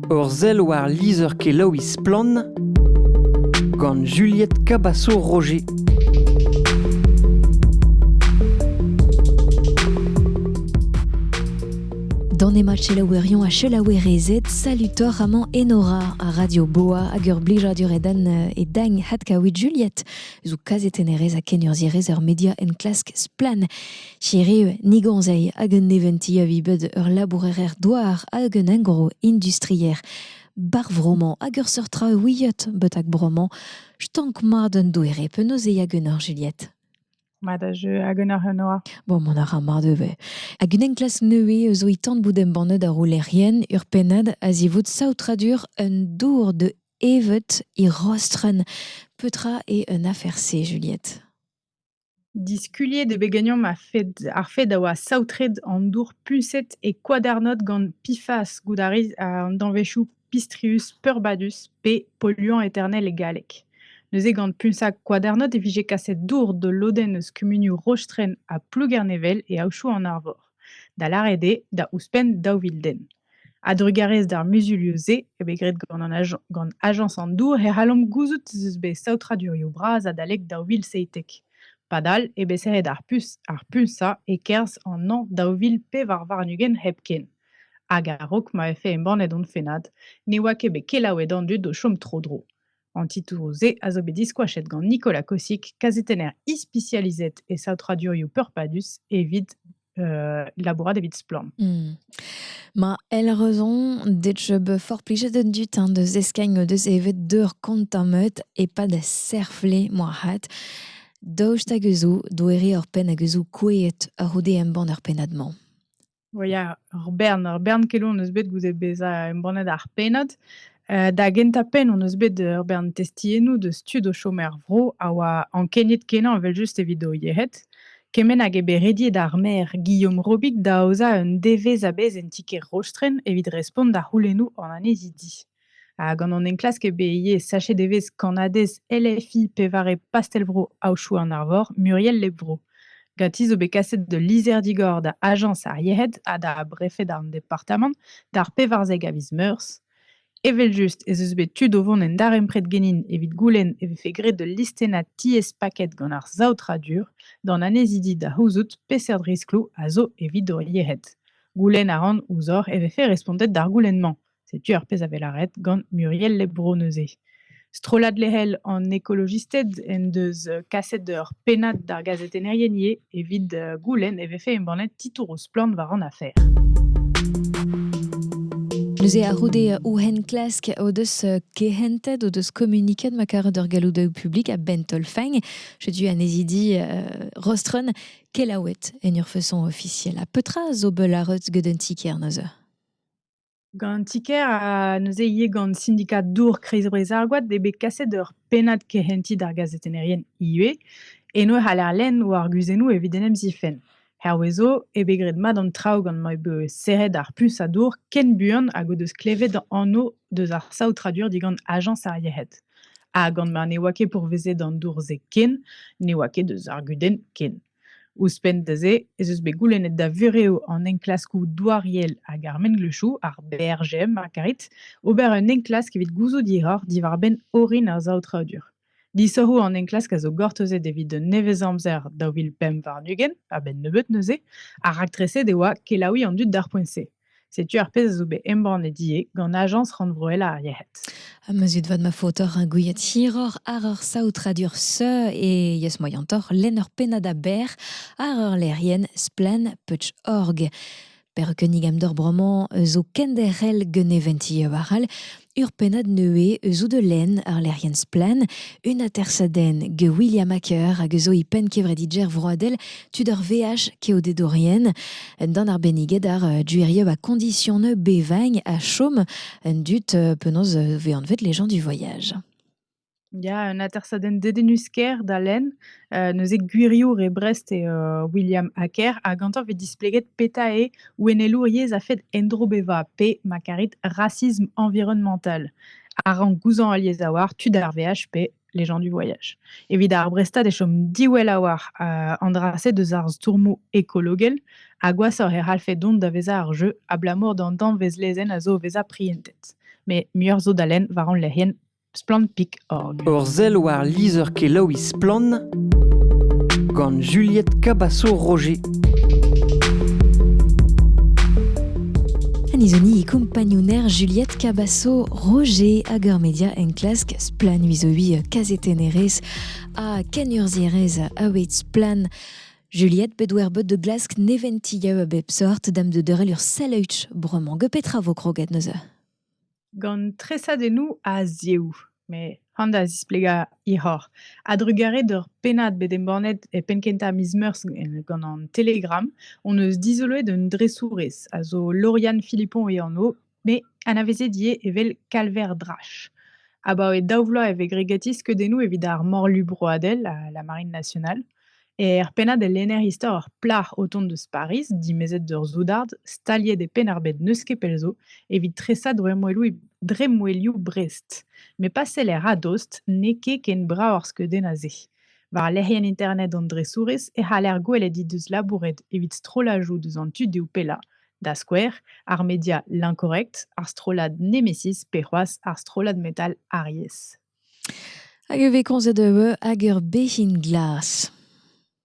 Ur sell war lizher-kelaouiñ Splann! gant Juliette Cabasso-Roger. Dans Nema Chelaouerion a Chelaouerezed, salutor Raman Enora a Radio Boa hag ur blijadur e dan euh, e dagn hat kaouit Juliette eus o kazetennerez a kenurzhierez ur media enklask splann. Hiriv, Nigoñzay hag un neventi a vi bet ur labourer-douar hag un engroh industrier. Bar vro-mañ hag ur seurt traoù ouiet betek bro-mañ, stank mat un doere penaos e hag un orjeliet. Mat a jeu hag un arenoa. Bon, mont a ra mat ivez. Hag un enklask nevez zo e tan bout embannet ar roulerien ur pennad a-zivout saotradur un dour de evet e Rostren. Petra eo un afer-se, Juliette? Diskuliet eo bet ganeomp ar fed ar fed a oa saotret an dour puñset e Koadernod gant Pifas goût a ris an danvezioù Pistrius peurbadus pe polluant eternel e galleg. Neuze gant puñsañ Koadernod e vije kaset dour d'ul lodenn eus kumunioù Rostren ha Plougernevel e aodoù an Arvor, da lâret eo da ouzhpenn daou vil den. A-drugarez d'ar muzulioù-se eo bet graet gant ajañs an dour e c'hallomp gouzout ez eus bet saotradurioù bras adalek daou vil seitek. Padal eo bet serret ar puñsañ e-kerzh an hañv daou vil pevar warn-ugent hepken. Hag a-raok ma vefe embannet hon fennad, ne oa ket bet kelaouet an dud o chom tro-dro. An titouroù-se a zo bet diskoachet gant Nicolas Kossick, kazetenner ispisializet e saotradurioù peurpadus evit euh, labourat evit Splorn. Hmm. Ma el raison det je be forplige de du temps de zeskagno de evet deur kontamet e pa da serfle moa hat daoust hag eus doere ur penn hag eus koueet a roude embann ur pennad-mañ. Well, yeah, ur bern, ur bern keloù hon eus bet goude bezañ embannet ar pennad. Euh, da gentañ-penn hon eus bet ur bern testiennoù deus tud o chom er vro a oa ankeniet-kenañ evel-just evit o yec'hed. Kement hag eo bet rediet ar maer Guillaume Robic da aozañ un devezh a-bezh en ti-kêr Rostren evit respont da c'houlennoù an annezidi. Ha gant an enklask eo bet ivez sachet evezh kannadez LFI pevare pastell-vro Aochou an Arvor, Muriel Lebro. Ganti zo bet kaset d'ul lizher-digor da ajañs ar yec'hed ha da brefed an departamant d'ar pevarzek a viz Meurzh. Evel-just ez eus bet tud o vont en darempred genin evit goulenn e vefe graet ul listennad tiez-paket gant ar saotradur d'an annezidi da c'houzout peseurt riskloù a zo evit hor yec'hed. Goulenn a ran ouzhoc'h e vefe respontet d'ar goulenn-mañ. Setu ar pezh a vez lâret gant Muriel Lebro neuze. Strollad lec'hel an ekolojisted en deus kaset ur pennad d'ar gazetennerien ivez. Evit goulenn e vefe embannet titouroù splann war an afer. Neuze a-c'houde ouhen klask o deus kehentet, o deus kommuniket ma karet ur galloudaoù publik a-benn taol-fein. Setu anezidi Rostron kelaouet en ur façon ofisiel. Ha petra zo beul arreut gant un ti-kêr neuze? Gant an ti-kêr ha neuze ivez gant sindikad dour Kreiz-Breizh ar Goad eo bet kaset ur pennad kehentiñ d'ar gazetennerien ivez. Eno e c'haller lenn o arguzennoù evit en em zifenn. Hervez zo eo bet graet mat an traoù gant ma eo bet serret ar puñs a dour ken buan hag o deus klevet anv deus ar saotradur digant ajañs ar yec'hed. Ha gant ma ne oa ket pourvezet an dour-se ken, ne oa ket deus ar gudenn ken. Ouzhpenn da se ez eus bet goulennet da vurev an enklaskoù douariel hag ar mengleuzioù, ar BRGM ma karit, ober un enklask evit gouzout hiroc'h diwar-benn orin ar saotradur. Disoc'hoù an enklask a zo gortozet evit un nevez-amzer daou vil pemp warn-ugent, a-benn nebeut neuze, ha raktreset e oa kelaouiñ an dud d'ar poent-se. Setu ar pezh a zo bet embannet ivez gant Ajañs rannvroel ar yec'hed. Ha ma zud vat ma faot oc'h ar gouiad hiroc'h àr ur saotradur seu e yeus moaiantoc'h lenn ur pennad aber àr ur lec'hienn Splann.org. Perc'h kunnig amdor bremañ zo kenderc'hel gant e vent-ivez all. Ur pennad neuze eus Eau de Laine, ur lec'hienn splann, un atersadenn get William Acker hag eus e penn kevredidjer vroadel tud ar VH keodedorien. Un dan arbenniget ar euh, duerieu a condition bevagn ha chom un dud euh, penaos euh, vet anvet les gens du voyage. Ya, un atersadenn dedennus-kaer da lenn, heu, neuze gwiriour e Brest eo, heu, William Hacker ha gantañ 'vez displeget petra eo ouennelour yezh a-fed endro bevañ pe, ma karit, racisme environnemental. A rank gouzañv al yezh a-walc'h tud ar veaj pe les gens du voyage. Evit ar Brestad e chom diwall a-walc'h, heu, an dra-se deus ar stourmoù ekologel ha gwashoc'h e c'hallfe dont da vezañ ar jeu abalamour d'an danvez lezenn a zo o vezañ prientet. Mais muioc'h zo da lenn war hon lec'hienn. Splann.org Ur sell war lizher-kelaouiñ Splann gant Juliette Cabasso-Roger. Anizoni e compagnouner Juliette Cabasso Roger hag ur media enklask Splann vizovi kazetennerez ha kenurzhierez a Splann. Juliette bet wer bot de glask neventi gaou a bep sort dam de deurel ur sell bremañ. Ge petra vo kroget neuze? gant tresadennoù a-ziehoù, met han da zisplegañ hiroc'h. A-drugarez d'ur pennad bet embannet e penn-kentañ miz Meurzh gant an Telegram hon eus dizoloet un dresourez a zo Lauriane Philippon e anv, met anavezet ivez evel Kalver Drache. Abaoe daou vloaz e vez gregatit skeudennoù evit ar Morlu broadel ha la Marine nationale. Er pennad e lenner istor ur plac'h o tont eus Pariz, dimezet d'ur soudard, staliet e Penn-ar-Bed n'eus ket pell zo, evit tresañ dremmwelioù Brest. Met pa seller a-dost, n'eo ket ken brav ar skeudenn a-se. War lec'hienn internet an dresourez e c'haller gwelet he deus labouret evit strollajoù deus an tudioù pellañ, da skouer ar media L'Incorrect, ar strollad Nemesis pe c'hoazh ar strollad metal Aries. Hag e vez komzet eu hag ur bezhin glas.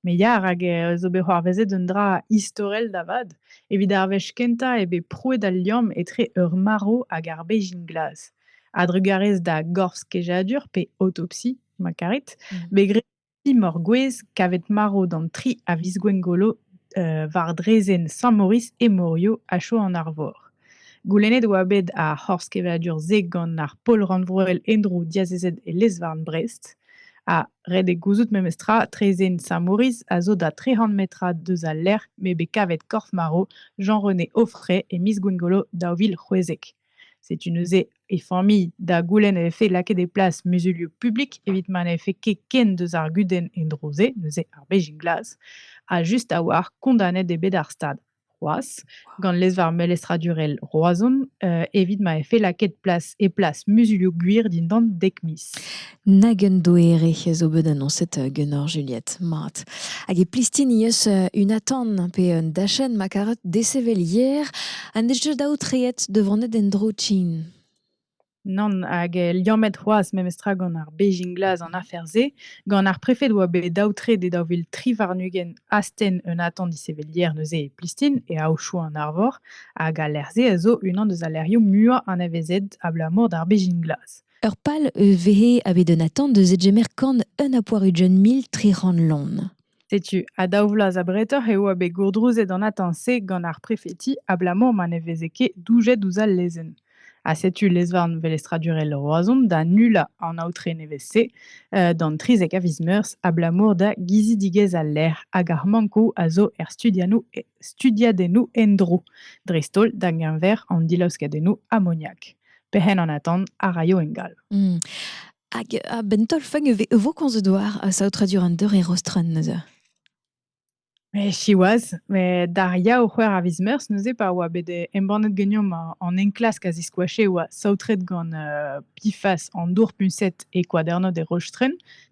Me ya, rak eh zo bet c'hoarvezet un dra istorel da vat. Evit ar wech kentañ eo bet prouet al liamm etre ur marv hag ar bezhin glas. A-drugarez da gorf-kejadur pe autopsie, ma karit, bet graet Imor gwez kavet marv d'an tri a viz Gwengolo war draezhenn Sant-Maurice e Morio ha Chao an Arvor. Goulennet oa bet ar c'horz-kevadur-se gant ar pol rannvroel en-dro diazezet e lez-varn Brest. Ha ret eo gouzout memestra, traezhenn Sant-Maurice a zo da trec'h metrad deus al lec'h m'eo bet kavet korf-marv Jean-René Auffray e miz Gwengolo daou vil c'hwezek. Setu neuze e familh da goulenn e vefe lakaet e plas muzulioù publik evit ma ne vefe ket ken deus ar gudenn en-dro-se, neuze ar Beijing Glas a just a-walc'h kondanet eo bet ar stad c'hoazh gant lez-varn melestradurel Roazhon uh, evit ma vefe lakaet plas e plas muzulioù gwir dindan dek miz. Nag un doere zo bet annoncet ganeoc'h, Juliette, mat. Hag e plistini eus un atant pe un dachenn ma karet desevel hier ha n'eus ket aotreet da vonet en-dro tsin. Nann, hag liammet c'hoazh memestra gant ar Beijing Glas an afer-se, gant ar prefed oa bet aotret e daou vil tri warn-ugent astenn un atant disevel hier neuze e Plistin e Aochou an Arvor, hag al lec'h-se a zo unan deus al lec'hioù muiañ anavezet abalamour d'ar Beijing Glas. Ur pal eus vehe a bet un atant eus edgemer kan un a poarujenn mil tri c'hant lon. Setu, ha daou vloaz abretoc'h eo a bet gourdrouzet an atant-se gant ar prefeti abalamour ma ne veze ket doujet ouzh al lezenn. Ha setu lezvarn velestradurel Roazhon da nullañ an aotre nevez-se uh, d'an 30 a viz meurzh abalamour da gizidigezh al lec'h hag ar mankoù a zo er studiadennoù endro, dreist-holl da geñver an dilaoskadennoù amoniak. Pehen an atant a raio ingal. Hmm. Hag a-benn taol-fag e vo komz doar a saotradur an deur e rostren neuze? Mais siwazh, met d'ar ya o c'hwec'h a viz meurzh neuze pa oa bet embannet ganeomp an enklask a ziskoache e oa saotret gant pifas an dour puñset e Kwadernod e Rostren,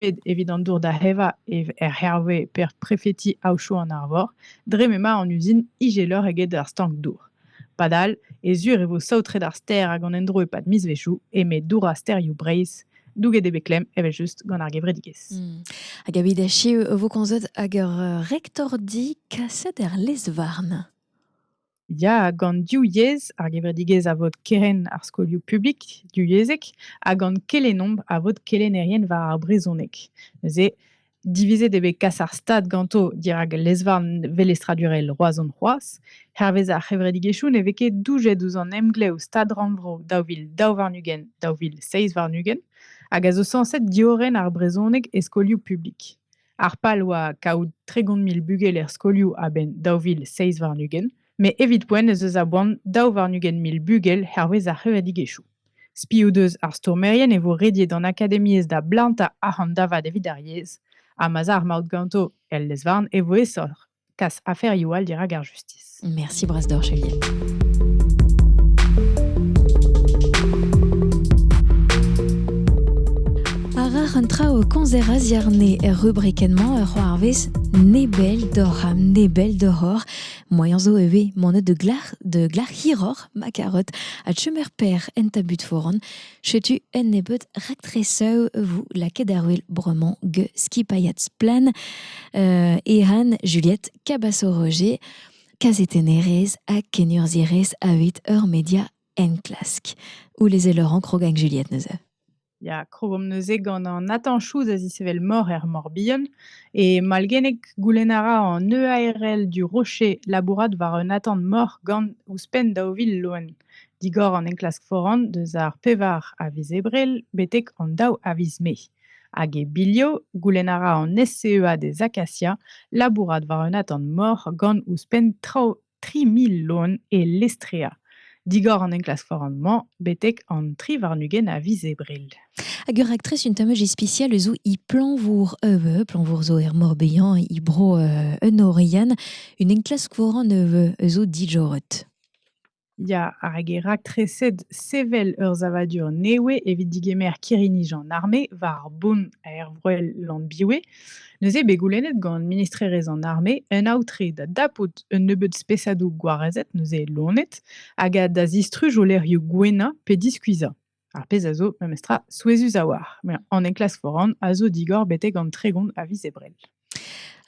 bet evit an dour da evañ er Herve per prefeti Aochou an Arvor dre m'emañ an uzin ijeloc'h eget ar stank-dour. Padal e sur e vo saotret ar stêr hag an endro e-pad mizvezhioù eme dourañ stêrioù Breizh douget eo bet klemm evel-just gant ar gevredigezh. Hmm. Hag evit echu e vo komzet hag ur rektordi kaset er lez-varn. Ya, gant div yezh, ar gevredigezh a vod kerenn ar skolioù publik divyezhek ha gant kelennomp a vod kelennerien war ar brezhoneg. Neuze, divizet eo bet kas ar stad ganto dirak lezvarn velestradurel Roazhon c'hoazh. Hervez ar c'hevredigezhioù ne vez ket doujet ouzh an emglev Stad-rannvro daou vil daou warn-ugent daou vil seizh warn-ugent hag a zo sañset diorren ar brezhoneg e skolioù publik. Ar pal oa kaout tregont mil bugel er skolioù a-benn daou vil seizh warn-ugent, met evit poent ez eus a boan daou warn-ugent mil bugel hervez ar c'hevredigezhioù. Spi o deus ar stourmerien e vo rediet an akademiezh da blantañ arc'hant da vat evit ar yezh, ha ma'z a ar maout ganto el lez-varn e vo aesoc'h. kas aferioù all dirak ar justis. Merci Brasdorch, Elien. Arar un traoù konzer a ziarne er rubrikennement ur c'hoarvez nebel d'or ha nebel d'horor. Moaien zo e vez monet de glac'h de glac'h hiror ma carot a chumer per en tabut foran. Setu un nebeud raktresoù 'vo lakaet ar wel bremañ get skipailhad Splann euh Ehan, Juliette, Cabaço-Roger, kazetennerez ha kenurzhierez a-hed ur media enklask. Ouleze Laurent krog hag Juliette neuze. Ya, krogomp neuze gant Nathan Chouz a zisevel mor er Morbihan. E malgennek goulenn a ra an EARL du Rocher labourat war un atant mor gant ouzhpenn daou vil loen. digor an enklask foran deus ar pevar a viz Ebrel betek an daou a viz Mae. Hag e bilho, goulenn a ra an SCEA des Acacias labourat war un atant mor gant ouzhpenn traoù 3000 loen e Lestrea. Digor an enklask foran-mañ betek an tri warn-ugent a viz Ebrel. Hag ur raktres un tammaj ispisial eus i planvour euh, planvour zo er Mor Behan, i bro euh, un Orian, un enklask foran euh, eus o dijorret. Ya, hag e raktreset sevel ur savadur nevez evit digemer kirri-nij an arme war ar bonn aervroel Llanbiwe. Neuze bet goulennet gant ministrerezh an arme un aotre da dapout un nebeud spesadoù gwarezet neuze lonet hag da zistruj o lec'hioù gouennañ pe diskuizhañ. Ar pezh a zo memestra souezhus a-walc'h. Met an enklask foran a zo digor betek an tregont a viz Ebrel.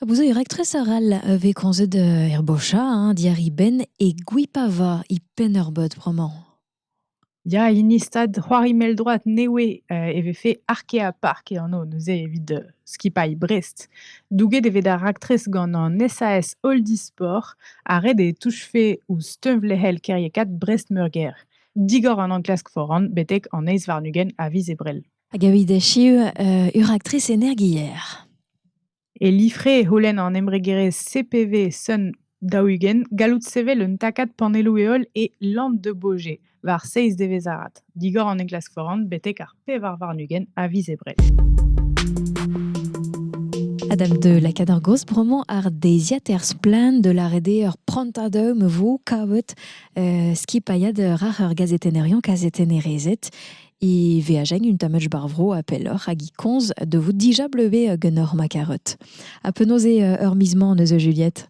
Vous avez rectrice arall avec konzet herbosha, hein, diari ben et gwipava i pennerbot bremañ. Ya, hini stad c'hoari mell-droad newe euh, e vefe Arkea Park e anv neuze evit euh, skipailh Brest. Douget e vez da raktres gant an SAS Oldisport ha ret e touchfe ouzh teunvlec'hel kêriekaat Brest-Meurgêr. digor an enklask foran betek an eizh warn-ugent a viz Ebrel. Hag evit echu, uh, ur actrice energier. E lifre e holen an embregerezh CPV Sun daougen gallout sevel un takad panelloù-heol e Land de Bauge war 6 devezh arat, digor an enklask foran betek ar pevar warn-ugent a viz Ebrel. Adam de la Cadargos bremañ ar deiziad er splann de la rede ur prantadum vo kavet euh, skipailhad rar ur gazetennerion kazetennerezet e veajen un tamach barvro a pelloc'h hag i konz de vous dija bleuve genor ma karet. A penaos eo ur mismañ eus Juliette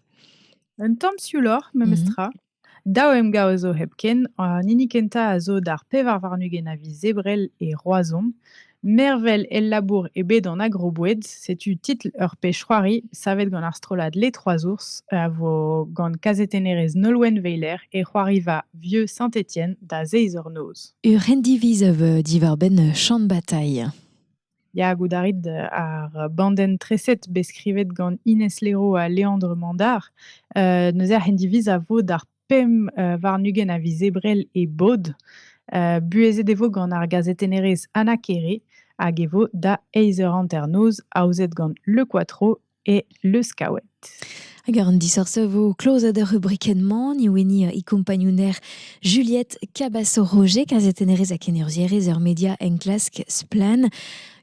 Un tamm siouloc'h, memestra. Mm Daou emgav a zo hepken, an hini kentañ a zo d'ar pevar warn-ugent a viz Ebrel e Roazhon. Mervel el labour eo bet an agroboued. Setu titl ur pezh-c'hoari savet gant ar strollad Les Trois Ours a vo gant kazetennerez Nolwenn Weiler e c'hoariva Vieux Saint-Étienne da zeiz eur noz. Ur rendiviz a vo diwar-benn Champ Bataille. Ya, goût a rit ar bandenn-treset bet skrivet gant Inès Léraud ha Léandre Mandard. Euh, neuze ar c'hendiviz a vo d'ar pemp euh, warn-ugent a viz Ebrel e bod. Euh, buhezet e vo gant ar gazetennerez Anna Kere hag e vo da eizh eur hanternoz, aozet gant Le Quattro e leuskaouet. Hag an disoc'h a vo klozet er rubrikenn-mañ, ni wini e kompagnouner Juliette Cabasso-Roger, kazetennerez ha kenurzierez er media enklask Splan.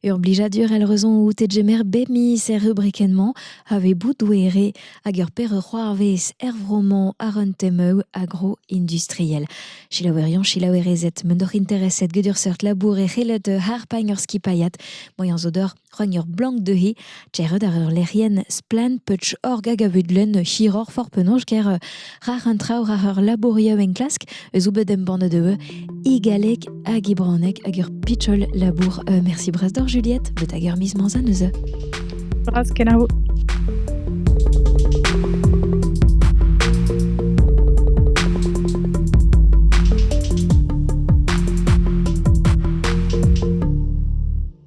Ur blijadur elle raison out e jemer bemiz er rubrikenn-mañ a vez boudouere hag ur per c'hoarvez er vro-mañ ar un temeu agro-industriel. Chilaouerion, chilaouerezet, mendoc'h intereset gedur seurt labourer elet harpagn ur skipaiat, moyen zodor Rugn ur blank dezhe, Tchered ar ur lec'hienn splann Putsch Org hag a vud lenn hiroc'h for penaos ger euh, rar an traoù rar ur labourioù enklask eus bet embannet eu i galleg hag i branek hag ur pitchol labour. Euh, merci bras d'or Juliette, bet hag ur miz manzan eus Bras kenavo.